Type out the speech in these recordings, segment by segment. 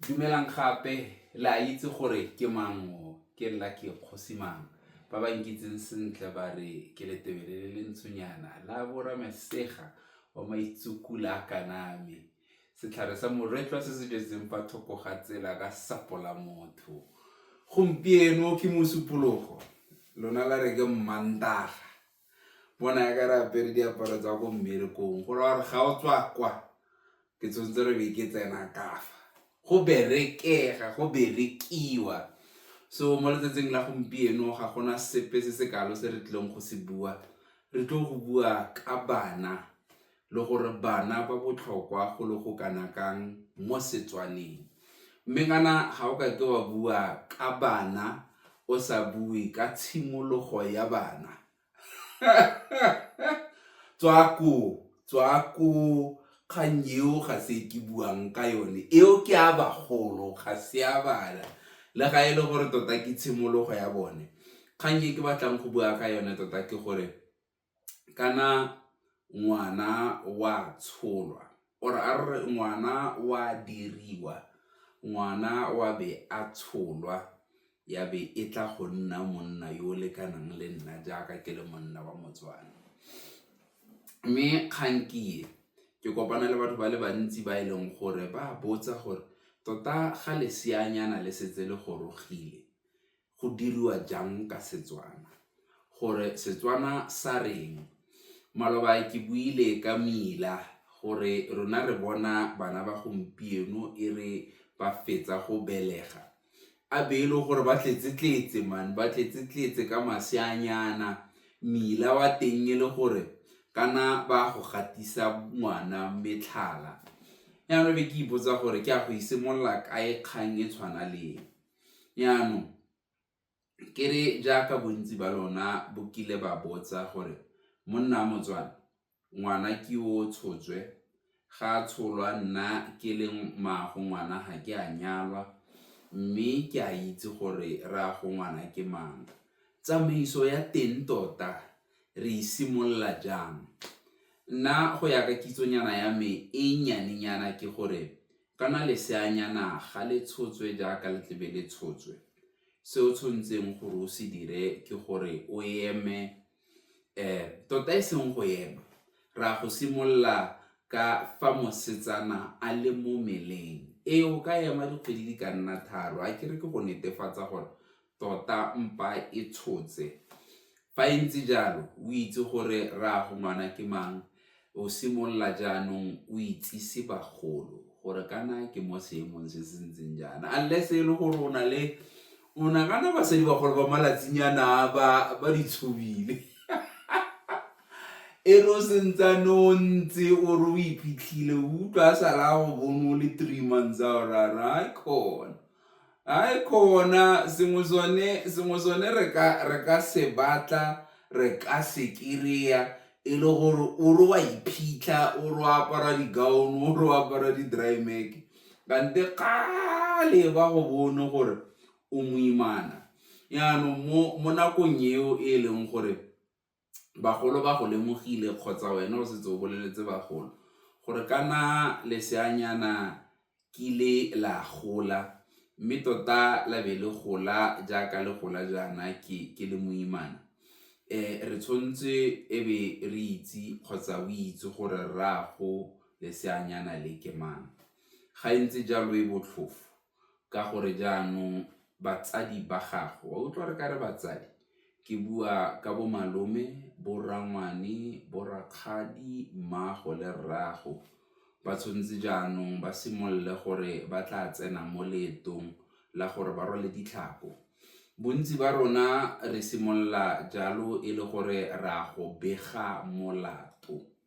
Dumelang gape, le a itse gore ke mang o? Ke nna ke Kgosi Mang. Ba ba nkitseng sentle ba re ke letebele le le ntshonyana la boramesega wa maitsukula a kaname, setlhare sa moretlwa se se jetseng fa thoko ga tsela ka sapo la motho. Gompieno ke Mosupologo, lona la re ke Mmantaga. bona ya ka re apere diaparo tsa ko mmerekong go ra gore ga o tswa kwa ke tshwanetse re be ke tsena kafa go berekega go berekiwa so mo letsatsing la gompieno ga gona sepe se se kalo se re tlileng go se bua re tlo go bua ka bana le gore bana ba botlhokwa go le go kana kang mo Setswaneng. Mme kana ga o kake wa bua ka bana o sa bue ka tshimologo ya bana tswa koo, tswa koo kgang eo ga se e ke buang ka yone eo ke ya bagolo ga se ya bana le ga e le gore tota ke tshimologo ya bone. Kgang e ke batlang go bua ka yone tota ke gore. kana ngwana wa tsholwa or a re re ngwana wa diriwa, ngwana wa be a tsholwa ya be e tla go nna monna yo o lekanang le nna jaaka ke le monna wa moTswana. Mme kgang ke e, ke kopana le batho ba le bantsi ba e leng gore ba botsa gore tota ga leseanyana le setse le gorogile go diriwa jang ka Setswana, gore Setswana sa reng. Maloba ke buile ka mmila gore rona re bona bana ba gompieno e re ba fetsa go belega, a be e le gore ba tletse-tletse man, ba tletse-tletse ka maseanyana, mmila wa teng e le gore kana ba go gatisa ngwana metlhala. Jaanong be ke ipotsa gore ke a go e simolola kae kgang e tshwana le e. Jaanong ke re jaaka bontsi ba lona bo kile ba botsa gore monna wa Motswana ngwana ke o tshotswe, ga a tsholwa nna ke le mmaago ngwana ga ke a nyalwa mme ke a itse gore rraago ngwana ke mang. Tsamaiso ya teng tota re e simolola jang? Nna go ya ka kitsonyana ya me e nnyanenyana ke gore Kana leseanyana ga le tshotswe jaaka le tlebe le tshotswe, se o tshwanetseng gore o se dire ke gore o eme tota e seng go ema, re ya go simolola ka fa mosetsana a le mo meleng. Ee, o ka ema dikgwedi di ka nna tharo, akere ke go netefatsa gore Tota mpa e tshotse. Fa e ntse jalo, o itse gore rraago ngwana ke mang, o simolola jaanong o itsise bagolo gore kana ke mo seemong se se ntseng jaana. Unless e le gore o na le o nagana basadi bagolo ba malatsinyana ba ba di tshobile. e re o sentsane o ntse o re o iphitlhile o utlwa a sala go bone o le three months a o rara kgona Ai khona sengwe sone sengwe sone re ka re ka se batla re ka se kry-a e le gore o re wa iphitlha o re o apara di-gown o re o apara di-dry mac kante kgale ba go bone gore o moimana yaanong mo mo nakong eo e leng gore bagolo ba go lemogile kgotsa wena o setse o boleletse bagolo gore kana leseanyana kile la gola mme tota la be le gola jaaka le gola jaana ke le moimana, re tshwanetse e be re itse kgotsa o itse gore rraago leseanyana le ke mang, ga ntse jalo e botlhofo. ka gore jaanong batsadi ba gago, wa utlwa re ka re batsadi? ke bua ka bo malome, bo rangwane, bo rakgadi, mmago le rrago ba tshwanetse jaanong ba simolole gore ba tla tsena mo leetong la gore ba rwale ditlhako. Bontsi ba rona re simolola jalo e le gore re a go bega molato.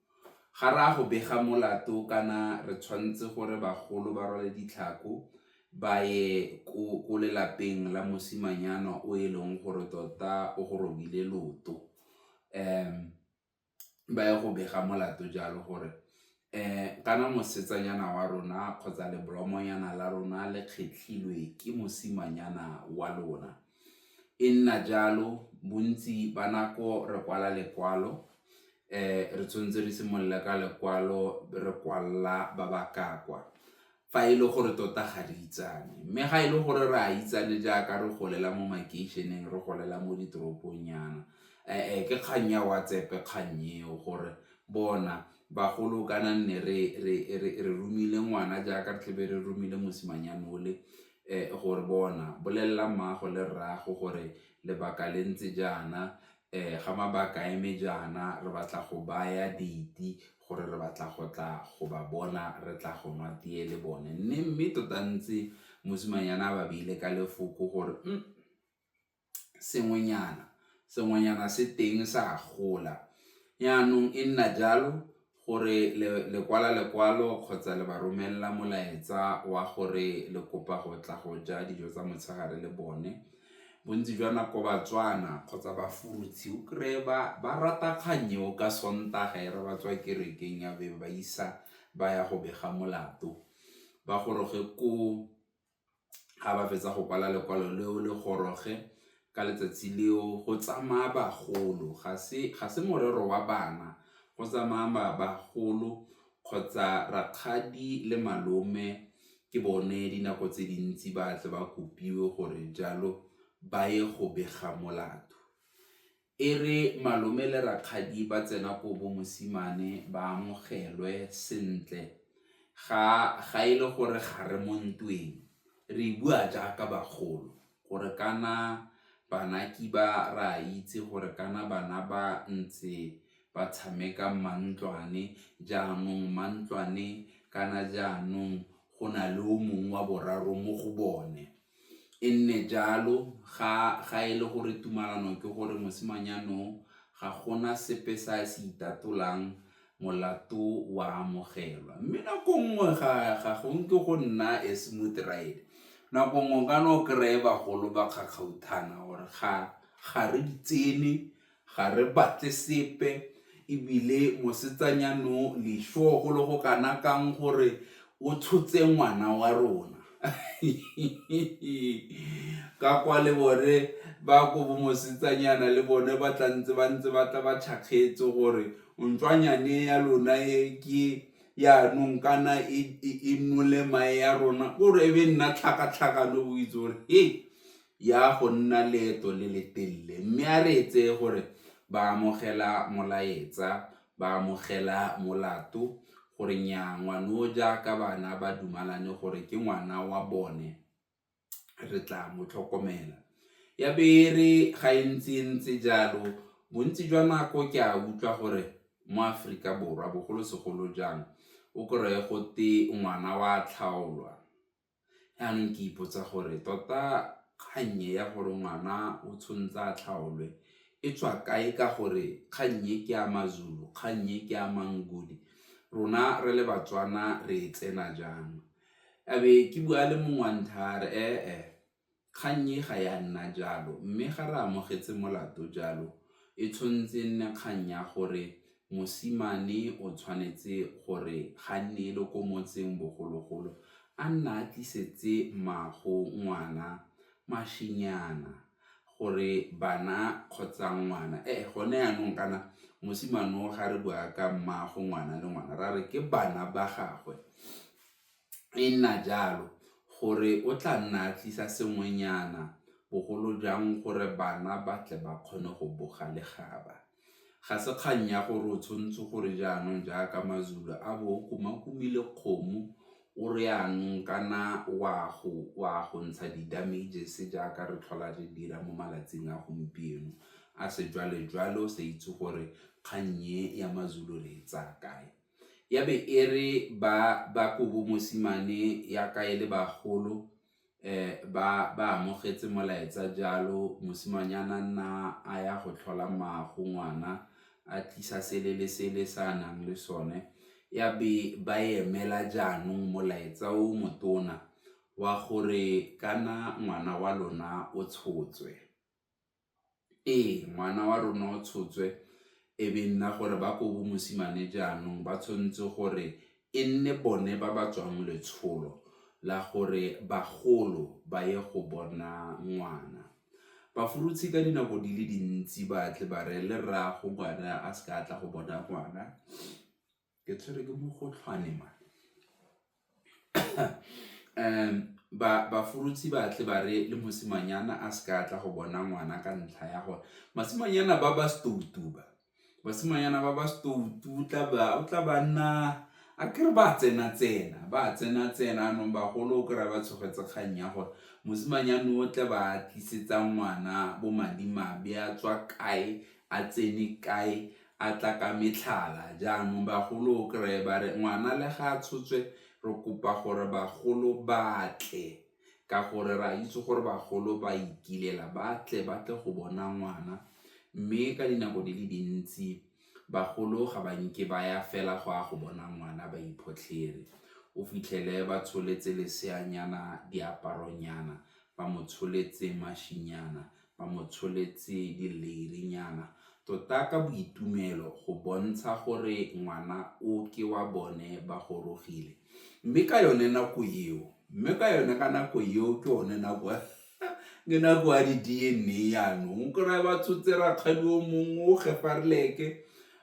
Ga re a go bega molato kana re tshwanetse gore bagolo ba rwale ditlhako ba ye ko lelapeng la mosimanyana o e leng gore tota o go robile leoto, ba ye go bega molato jalo gore kana mosetsanyana wa rona kgotsa lebolomonyana la rona le kgetlhilwe ke mosimanyana wa lona. E nna jalo bontsi ba nako re kwala lekwalo re tshwanetse re simolola ka lekwalo re kwalela ba ba ka kwa, fa e le gore tota ga re itsane. Mme ga e le gore re a itsane jaaka re golela mo makeišeneng, re golela mo ditoropong nyana, ke kgang ya WhatsApp-e kgang eo, gore bona bagolo kana nne re romile ngwana jaaka re tlebe re romile mosimanyana o le, gore bona bolelela mmago le rrago gore lebaka le ntse jaana, ga mabaka a eme jaana re batla go baya date gore re batla go tla go ba bona re tla go nwa teye le bone mme mme tota ntse mosimanyana a ba beile ka lefoko gore mm, sengwenyana sengwenyana se teng sa gola yaanong e nna jalo gore le kwala lekwalo kgotsa le ba romelela molaetsa wa gore le kopa go tla go ja dijo tsa motshegare le bone. Bontsi jwa nako Batswana kgotsa Bafurutse o kry-e ba rata kgang eo ka Sontaga e re ba tswa kerekeng ya be ba isa ba ya go bega molato ba goroge koo. ga ba fetsa go kwala lekwalo leo le goroge ka letsatsi leo go tsamaya bagolo ga se morero wa bana go tsamaya bagolo kgotsa rakgadi le malome ke bone dinako tse dintsi ba tle ba kopiwe gore jalo ba ye go bega molato. E re malome le rakgadi ba tsena ko bo mosimane ba amogelwe sentle, ga e le gore ga re mo ntweng, re bua jaaka bagolo gore kana bana kiba re a itse gore kana bana ba ntse ba tshameka mmantlwane, jaanong mmantlwane kana jaanong go na le o mongwe wa boraro mo go bone. e nne jalo ga e le gore tumalano ke gore mosimanyana o ga gona sepe se a se itatolang molato wa amogelwa mme nako nngwe ga go nke go nna a smooth ride nako nngwe o ka no kry-e bagolo ba kgakgauthana or-e ga re di tsene. Ga re batle sepe, e bile mosetsanyano lešo go le go kana kang gore o tshotse ngwana wa rona. Ka kwa le bone ba ko bomosetsanyana le bone ba tla ntse ba ntse ba tla ba tšhakgetse gore ntswanyane ya lona e ke yaanong kana e nole mae ya rona, kore e be nna tlhakatlhakano o itse gore he. ya go nna leeto le le telele, mme a re etse gore ba amogela molaetsa, ba amogela molato gore nyaa ngwano jaaka bana ba dumalane gore ke ngwana wa bone re tla mo tlhokomela. Ya be e re ga e ntse e ntse jalo bontsi jwa nako ke a utlwa gore mo Aforika Borwa bogolosegolo jang o kry-e gote ngwana wa tlhaolwa, yanong ke ipotsa gore tota kgang e ya gore ngwana o tshwanetse a tlhaolwe e tswa kae ka gore kgang e ke ya maZulu, kgang e ke ya maNguni rona re le baTswana re e tsena jang, a be ke bua le mongwe wa nthaya a re Kgang e ga ya nna jalo, mme ga re amogetse molato jalo, e tshwanetse e nne kgang ya gore mosimane o tshwanetse gore ga nne e le ko motseng bogologolo a nna a tlisetse mmago ngwana mašenyana gore bana kgotsa ngwana e gone yanong kana mosimane o ga re bua ka mmago ngwana le ngwana ra re ke bana ba gagwe e nna jalo gore o tla nna a tlisa sengwenyana bogolo jang gore bana ba tle ba kgone go boga legaba. Ga se kgang ya gore o tshwanetse gore jaanong jaaka maZulu a bo o kumakumile kgomo o re jaanong kana o a go ntsha di-damages jaaka re tlhola re dira mo malatsing a gompieno a sejwalejwale o sa itse gore kgang e ya maZulu re e tsaya kae. ya be e re ba ba kobo mosimane ya ka e le bagolo ba ba amogetse molaetsa jalo mosimanyana nna a ya go tlhola mmago ngwana a tlisa sele le sele se a nang le sone, ya be ba emela jaanong molaetsa o motona wa gore kana ngwana wa lona o tshotswe. Ee, ngwana wa rona o tshotswe e be nna gore ba ko bomosimane jaanong ba tshwanetse gore e nne bone ba ba tswang letsholo la gore bagolo ba ye go bona ngwana. Bafurutshi ka dinako di le dintsi ba tle ba reye le rraago ngwana a seka a tla go bona ngwana Ke tshwerwe ke mogotlhwane man. Bafurutse ba tle ba re le mosimanyana a se ka tla go bona ngwana ka ntlha ya gore basimanyana ba ba stoutu ba, basimanyana ba ba stoutu o tla ba nna a ke re ba tsena-tsena, ba tsena-tsena jaanong bagolo o kry-a ba tshogetse kgang ya gore mosimanyana o tle ba tlisetsa ngwana bo madimabe a tswa kae, a tsene kae, a tla ka metlhala, jaanong bagolo o kry-e ba re ngwana le ga a tshotswe re kopa gore bagolo batle ka gore re a itse gore bagolo ba ikilela, ba tle ba tle go bona ngwana mme ka dinako di le dintsi bagolo ga ba nke ba ya fela go a go bona ngwana ba iphotlhere, o fitlhele ba tsholetse leseanyana diaparonyana, ba mo tsholetse mašinyana, ba mo tsholetse dileirinyana tota ka boitumelo go bontsha gore ngwana o ke wa bone ba gorogile mme ka yone nako eo mme ka yone ka nako eo ke one nako ke nako ya di-DNA yanong o kry-e ba tshotse rakgadi o mongwe o gefarleke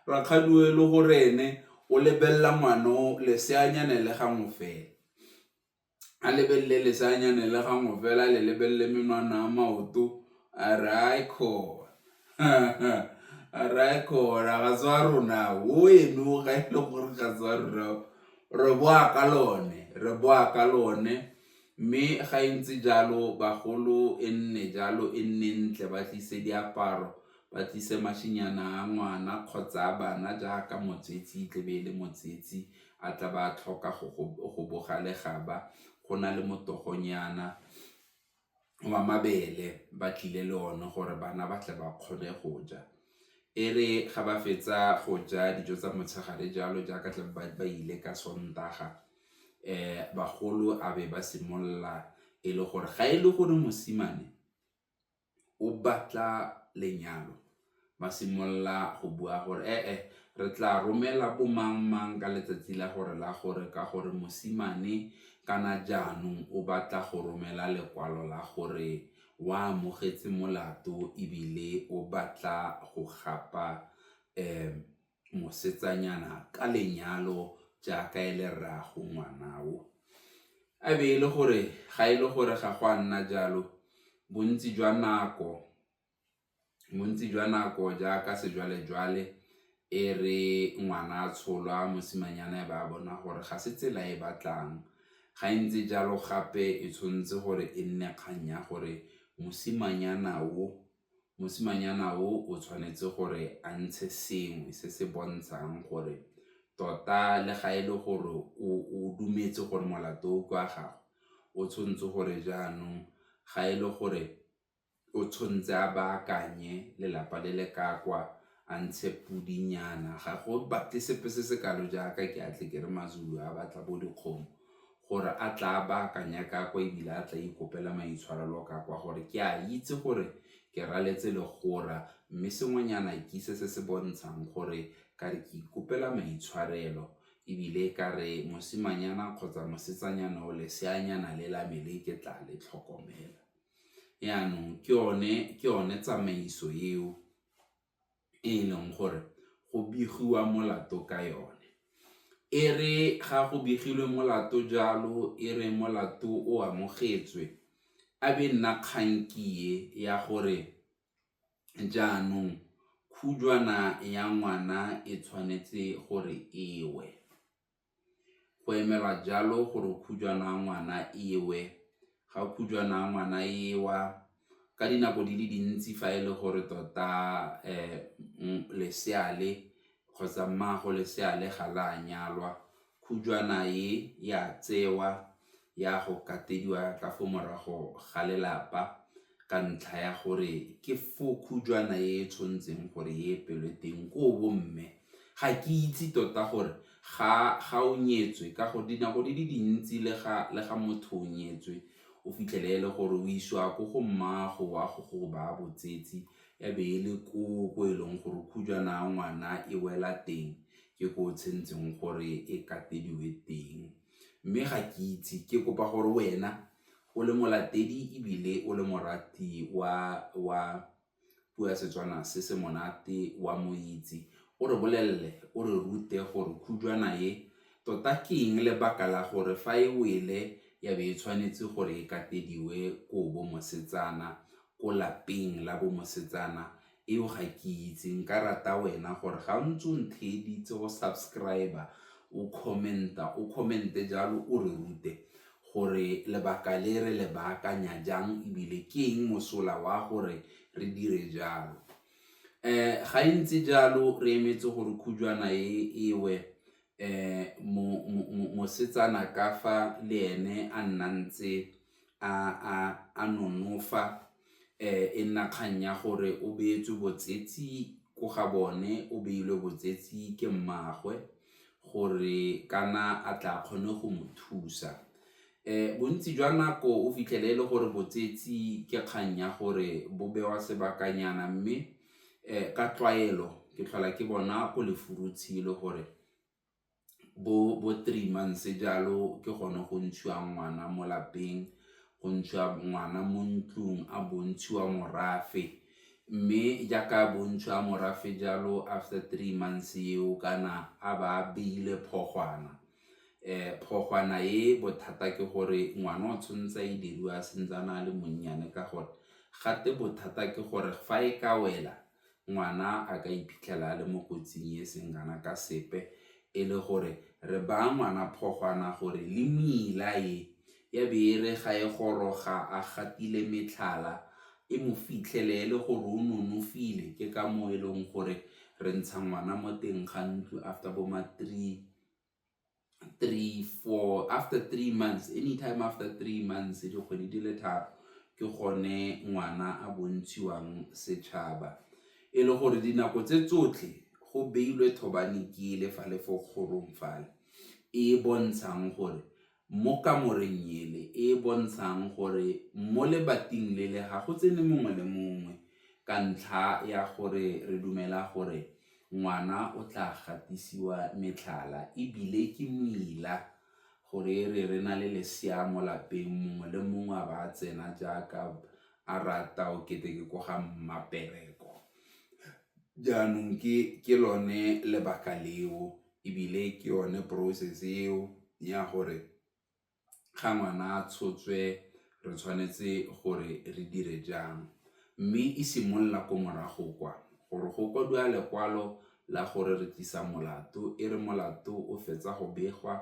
rakgadi o e le gore ene o lebelela ngwana o leseanyane le gangwe fela. a lebelele leseanyane le gangwe fela le lebelele menwana a maoto a re a e kgona a re a e kgona ga tswa rona o eme o ga e le gore ga tswa rona re boa ka lone re boa ka lone, mme ga e ntse jalo bagolo e nne jalo e nne ntle ba tlise diaparo ba tlise mašinyana a ngwana kgotsa a bana jaaka motsetsi e tle be e le motsetsi a tla ba a tlhoka go boga legaba go na le motogonyana wa mabele ba tlile le one gore bana ba tle ba kgone go ja, e re ga ba fetsa go ja dijo tsa motshegare jalo jaaka tla be ba ile ka sontaga bagolo a be ba simolola e le gore ga e le gore mosimane. o batla lenyalo, ba simolola go bua gore e-e re tla romela bo mang mang ka letsatsi la gore la gore ka gore mosimane kana jaanong o batla go romela lekwalo la gore o amogetse molato ebile o batla go gapa mosetsanyana ka lenyalo jaaka e le rraago ngwana o. A be e le gore ga e le gore ga go a nna jalo bontsi jwa nako bontsi jwa nako jaaka sejwalejwale e re ngwana a tsholwa mosimanyana e ba a bona gore ga se tsela e batlang ga e ntse jalo gape e tshwanetse gore e nne kgang ya gore mosimanyana o mosimanyana o o tshwanetse gore a ntshe sengwe se se bontshang gore tota le ga e le gore o dumetse gore molato o kwa gagwe o tshwanetse gore jaanong ga e le gore o tshwanetse a baakanye lelapa le le ka kwa a ntshe podinyana ga go batle sepe se se kalo jaaka ke a tle ke re maZulu a batla bo dikgomo. gore a tla a baakanya ka kwa e bile a tla ikopela maitshwarelo ka kwa gore ke a itse gore ke raletse legora mme sengwenyana ke se se se bontshang gore ka re ke ikopela maitshwarelo e bile ka re mosimanyana kgotsa mosetsanyana o leseanyana le la me le ke tla le tlhokomela. Jaanong ke yone tsamaiso eo e e leng gore go begiwa molato ka yone. E re ga go begilwe molato jalo e re molato o amogetswe, a be nna kgankie ya gore jaanong khujwana ya ngwana e tshwanetse gore e we. go emelwa jalo gore khujwana ya ngwana e we, ga khujwana ya ngwana e wa ka dinako di le dintsi fa e le gore tota lesea le kgotsa mmago lesea le ga le a nyalwa khujwana e ya tsewa ya go katediwa ka fo morago ga lelapa ka ntlha ya gore ke fo khujwana e e tshwanetseng gore e epelwe teng ko bo mme ga ke itse tota gore ga o nyetswe ka gore dinako di le dintsi le ga motho o nyetswe o fitlhele e le gore o isiwa ko go mmago wa go go baya botsetsi e be e le ko ko e leng gore khujwana ya ngwana e wela teng ke ko o tshwanetseng gore e katediwe teng. Mme ga ke itse, ke kopa gore wena o le molatedi ebile o le morati wa puo ya Setswana se se monate wa mo itse, o re bolelele, o re rute gore khujwana e tota ke eng, lebaka la gore fa e wele ya be e tshwanetse gore e katediwe ko bo mosetsana, ko lapeng la bo mosetsana Eo ga ke itse, nka rata wena gore ga o ntse o ntheeditse o subscriber, o comment-a, o comment-e jalo o re rute gore lebaka le re le baakanya jang ebile ke eng mosola wa gore re dire jalo. um ga e ntse jalo re emetse gore khujwana e ewe um mosetsana ka fa le ene a nna ntse a nonofa e nna kgang ya gore o beetswe botsetsi ko ga bone o beilwe botsetsi ke mmaagwe gore kana a tla kgone go mo thusa bontsi jwa nako o fitlhele e le gore botsetsi ke kgang ya gore bo bewa sebakanyana mme ka tlwaelo ke tlhola ke bona ko lefurutshe e le gore bo three months jalo ke gone go ntshiwa ngwana mo lapeng, go ntshiwa ngwana mo ntlung a bontshiwa morafe mme jaaka a bontshiwa morafe jalo after three months eo kana a ba a beile e bothata ke gore ngwana o tshwanetse a e diriwa a santse a le monnyane ka gore gate bothata ke gore fa e ka wela ngwana a ka iphitlhela a le mo kotsing e seng kana ka sepe e le gore re baya ngwana phogwana gore le mmila e ya be e re ga e goroga a gatile metlhala e mo fitlhele e le gore o nonofile ke ka moo e leng gore re ntsha ngwana mo teng ga ntlo after bo ma three three four after three months anytime after three months dikgwedi di le tharo ke gone ngwana a bontshiwang setšhaba e le gore dinako tse tsotlhe go beilwe thobane kele fa le fo kgorong fale e e bontshang gore mo kamoreng ele e e bontshang gore mo lebating lele ga go tsene mongwe le mongwe ka ntlha ya gore re dumela gore ngwana o tla gatisiwa metlhala ebile ke moila gore e re re na le lesea mo lapeng mongwe le mongwe a ba a tsena jaaka a rata o kete ke ko ga mmapereko jaanong ke lone lebaka leo. ebile ke yone process eo ya gore ga ngwana a tshotswe re tshwanetse gore re dire jang, mme e simolola ko morago kwa gore go kwadiwa lekwalo la gore re tlisa molato e re molato o fetsa go begwa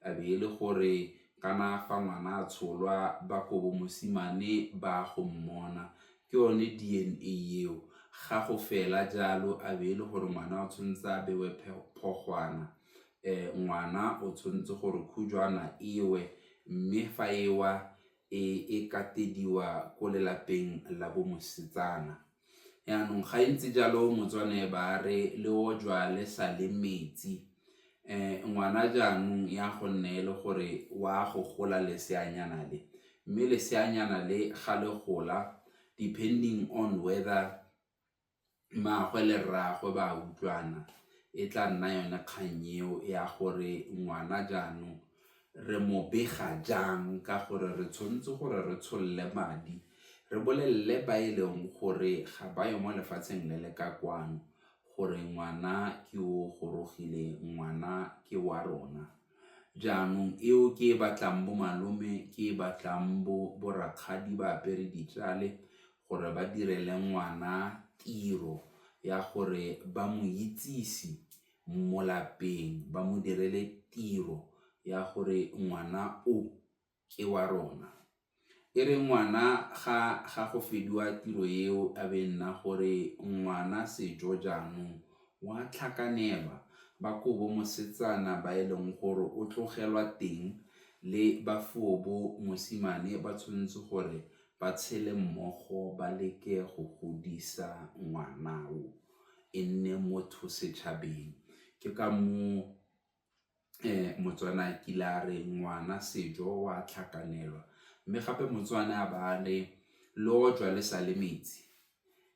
e be e le gore kana fa ngwana a tsholwa ba kobo mosimane ba go mmona ke yone D_N_A eo, ga go fela jalo a be e le gore ngwana o tshwanetse a bewe phogwana, ngwana o tshwanetse gore khujwana e we mme fa e wa e katediwa ko lelapeng la bo mosetsana. Jaanong ga e ntse jalo Motswana ba re le ojwa le sa le metsi, um ngwana jaanong ya gonne e le gore wa go gola leseanyana le mme leseanyana le ga le gola depending on whether mmaagwe le rraagwe ba utlwana e tla nna yone kgang eo ya gore ngwana jaanong re mo bega jang ka gore re tshwanetse gore re tsholole madi re bolelele ba e leng gore ga ba yo mo lefatsheng le le ka kwano gore ngwana ke o gorogile, ngwana ke wa rona. Jaanong eo ke e batlang bo malome, ke e batlang bo bo rakgadi ba apere ditšale gore ba direle ngwana tiro ya gore ba mo itsise mo lapeng, ba mo direle tiro ya gore ngwana o ke wa rona. E re ngwana ga ga go fediwa tiro eo a be nna gore ngwana sejo jaanong wa tlhakanelwa ba kobo mosetsana ba e leng gore o tlogelwa teng le ba foobo mosimane ba tshwanetse gore ba tshele mmogo ba leke go godisa ngwana o e nne motho setšhabeng ke ka moo Motswana a kile a re ngwana sejo o a tlhakanelwa, mme gape Motswana a ba a re lojwa le sa le metsi.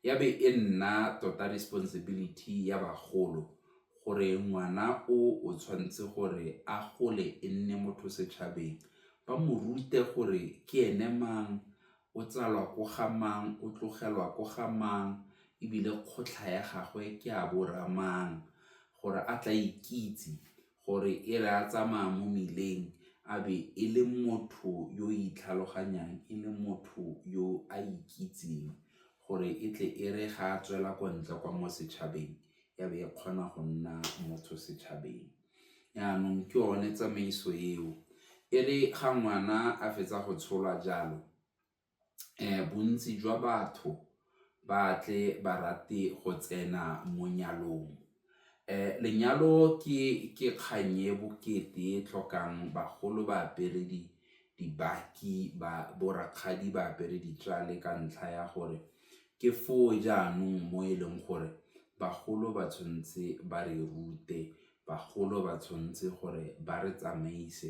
Ya be e nna tota responsibility ya bagolo gore ngwana o o tshwanetse gore a gole e nne motho setšhabeng, ba mo rute gore ke ene mang, o tsalwa ko ga mang, o tlogelwa ko ga mang ebile kgotlha ya gagwe ke ya bo rra mang gore a tla ikitse gore e re a tsamaya mo mmileng a be e le motho yo o itlhaloganyang e le motho yo a ikitseng gore e tle e re ga a tswela ko ntle kwa mo setšhabeng ya be e kgona go nna motho setšhabeng. Jaanong ke yone tsamaiso eo. E re ga ngwana a fetsa go tsholwa jalo, bontsi jwa batho ba tle ba rate go tsena mo nyalong. Lenyalo ke kgang e bokete e tlhokang bagolo, baberedi. dibaki ba bo rakgadi ba apere ditlhale ka ntlha ya gore ke foo jaanong mo e leng gore bagolo ba tshwanetse ba re rute, bagolo ba tshwanetse gore ba re tsamaise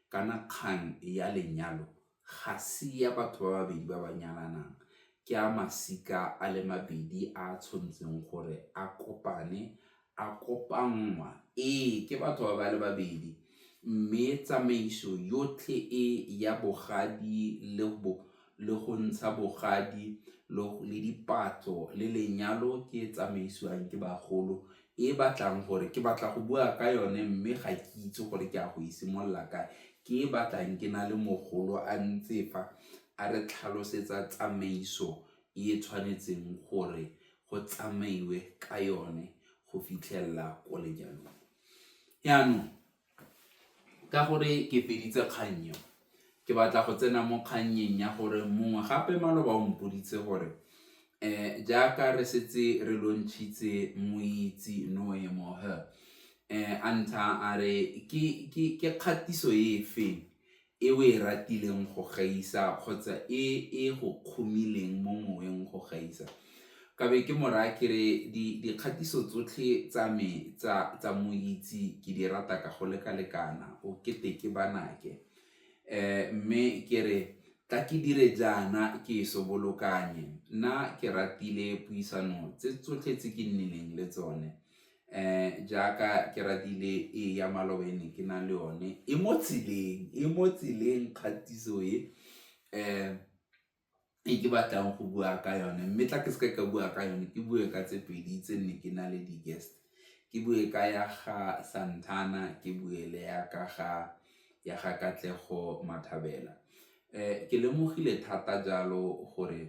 kana kgang ya lenyalo ga se ya batho ba babedi ba ba nyalanang ke ya masika a le mabedi a tshwanetseng gore a kopane a kopanngwa, ee, ke batho ba ba le babedi, mme tsamaiso yotlhe e ya bogadi le bo le go ntsha bogadi le dipatlo le lenyalo ke e tsamaisiwang ke bagolo e batlang gore ke batla go bua ka yone mme ga ke itse gore ke a go e simolola kae ke e batlang ke na le mogolo a ntse fa a re tlhalosetsa tsamaiso e tshwanetseng gore go tsamaiwe ka yone go fitlhelela ko lenyalong. Jaanong ka gore ke feditse kgang eo, ke batla go tsena mo kgannyeng ya gore mongwe gape maloba o mpoditse gore um jaaka re setse re lontšhitse moitse noe mohe um a ntsha a re ke kgatiso e feng e o e ratileng go gaisa kgotsa e e go kgomileng mo moweng go gaisa. Ka be ke mo raya ke re dikgatiso tsotlhe tsa me tsa moitse ke di rata ka go lekalekana o kete ke banake mme ke re tla ke dire jaana ke e sobolokanye nna ke ratile puisano tse tsotlhe tse ke nnileng le tsone. jaaka ke ratile e ya maloba e ne ke na le yone e mo tseleng, e mo tseleng kgatiso e e ke batlang go bua ka yone mme tla ke seke ka bua ka yone ke bue ka tse pedi tse nne ke na le di-guest ke bue ka ya ga Santana ke bue le ya ka ga Katlego Mathabela. um ke lemogile thata jalo gore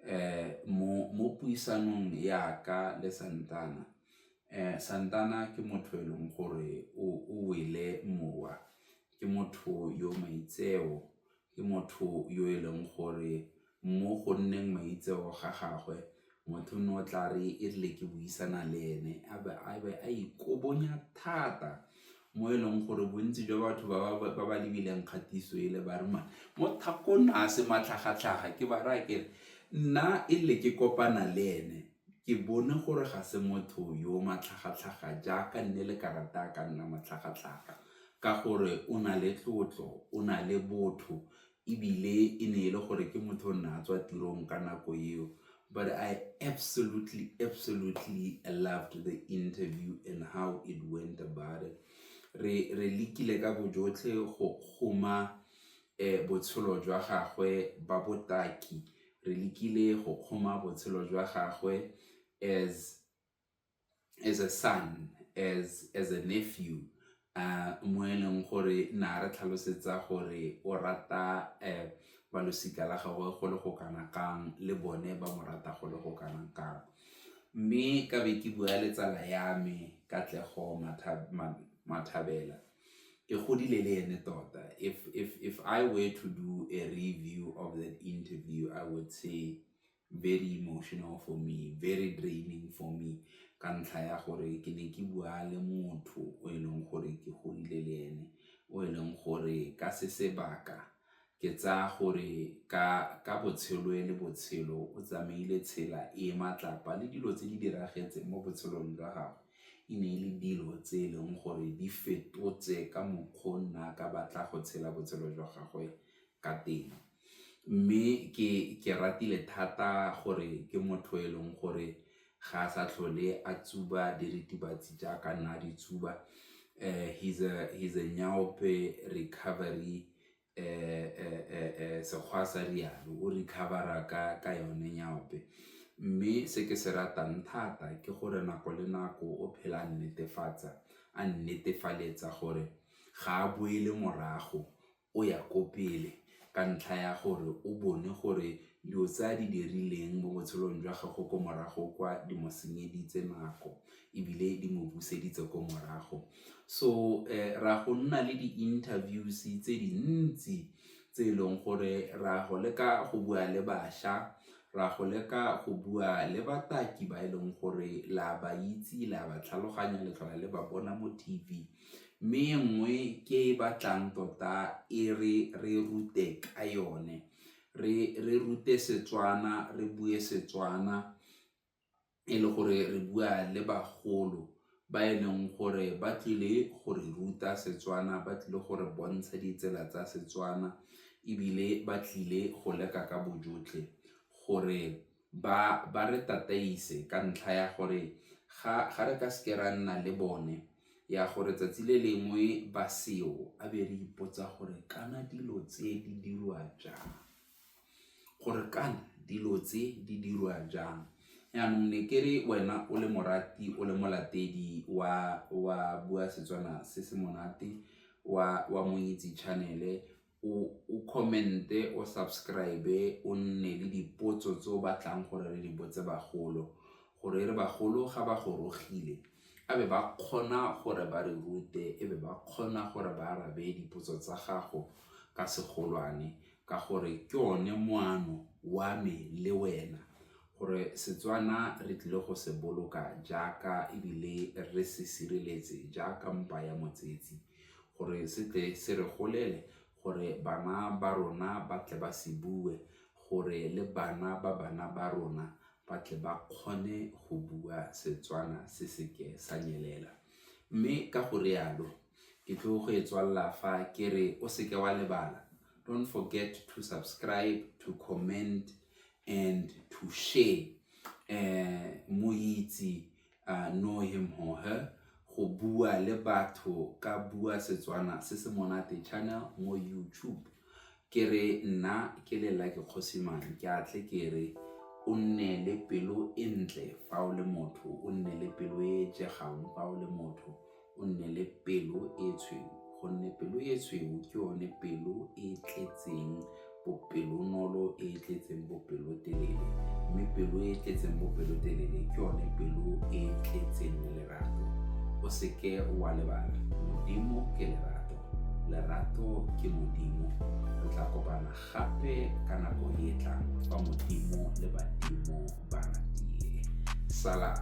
um mo puisanong yaka le Santana um Santana ke motho e leng gore o wele mowa, ke motho yo maitseo, ke motho yo e leng gore mo go nneng maitseo ga gagwe motho o ne o tla re e rile ke buisana le ene a be a ikobonya thata mo e leng gore bontsi jwa batho ba ba lebileng kgatiso e le ba re mane mo thakong a se matlhagatlhaga ke ba raya kere nna e rile ke kopana le ene ke bone gore ga se motho yo matlhagatlhaga jaaka nne le karata a ka nna matlhagatlhaga ka gore o na le tlotlo, o na le botho ebile e ne e le gore ke motho o ne a tswa tirong ka nako eo but I absolutely absolutely loved the interview and how it went about it. Re re lekile ka bojotlhe go kgoma botshelo jwa gagwe ba botaki, re lekile go kgoma botshelo jwa gagwe as as a son, as a nephew mo e leng gore ne a re tlhalosetsa gore o rata ba losika la gagwe go le go kana kang le bone ba mo rata go le go kana kang. Mme ka be ke bua le tsala ya me Katlego Mathabela, ke godile le ene tota if I were to do a review of that interview I would say very emotional for me, very draining for me ka ntlha ya gore ke ne ke bua le motho o e leng gore ke godile le ene, o e leng gore ka se sebaka ke tsaya gore ka botshelo e le botshelo o tsamaile tsela e e matlapa le dilo tse di diragetseng mo botshelong jwa gagwe e ne e le dilo tse e leng gore di fetotse ka mokgwa o nna ka batla go tshela botshelo jwa gagwe ka teng. Mme ke ratile thata gore ke motho e leng gore ga a sa tlhole a tsuba diritibatsi jaaka ne a di tsuba, he's a nyaope recovery Sekgowa sa rialo, o recover-a ka yone nyaope. Mme se ke se ratang thata ke gore nako le nako o phela a nnetefatsa, a nnetefaletsa gore ga a boele morago o ya ko pele ka ntlha ya gore o bone gore dilo tse a di dirileng mo botshelong jwa gagwe ko morago kwa di mo senyeditse nako ebile di mo buseditse ko morago. So ra go nna le di-interviews tse dintsi tse e leng gore ra go leka go bua le bašwa, ra go leka go bua le bataki ba e leng gore la ba itse, la ba tlhaloganya, le tlhola le ba bona mo T_V. Mme e nngwe ke e batlang tota e re re rute ka yone, re rute Setswana, re bue Setswana e le gore re bua le bagolo ba e leng gore ba tlile go re ruta Setswana, ba tlile go re bontsha ditsela tsa Setswana ebile ba tlile go leka ka bojotlhe gore ba re tataise ka ntlha ya gore ga re ka seke ra nna le bone ya gore 'tsatsi le lengwe ba seo a be re ipotsa gore kana dilo tse di dirwa jang, gore kana dilo tse di dirwa jang. Jaanong ne ke re wena o le morati o le molatedi wa Bua Setswana Se Se Monate wa Monyetsi Channel-e o comment-e, o subscribe-e, o nne le dipotso tse o batlang gore re di botse bagolo, gore e re bagolo ga ba gorogile e be ba kgona gore ba re rute, e be ba kgona gore ba arabe dipotso tsa gago ka segolwane ka gore ke one moano wa me le wena gore Setswana re tlile go se boloka jaaka ebile re se sireletse jaaka mpa ya motsetsi. gore se tle se re golele, gore bana ba rona ba tle ba se bue, gore le bana ba bana ba rona ba tle ba kgone go bua Setswana se se ke sa nyelela. Mme ka go rialo ke tlo go e tswalela fa ke re o se ke wa lebala, don't forget to subscribe, to comment and to share Moitse I know him or her go bua le batho ka bua setswana se se monate channel mo youtube ke re nna ke le lucky kgosimane ke a tle ke re o nne le pelo e ntle fa o le motho o nne le pelo e e jegang fa o le motho o nne le pelo e tshweu gonne pelo e tshweu ke yone pelo e e tletseng bopelonolo e e tletseng bopelotelele mme pelo e e tletseng bopelotelele ke yone pelo e e tletseng lerato o seke wa lebala modimo ke lerato lerato ke modimo re tla kopana Gape ka nako e e tlang fa Modimo le badimo ba ratile. Salam.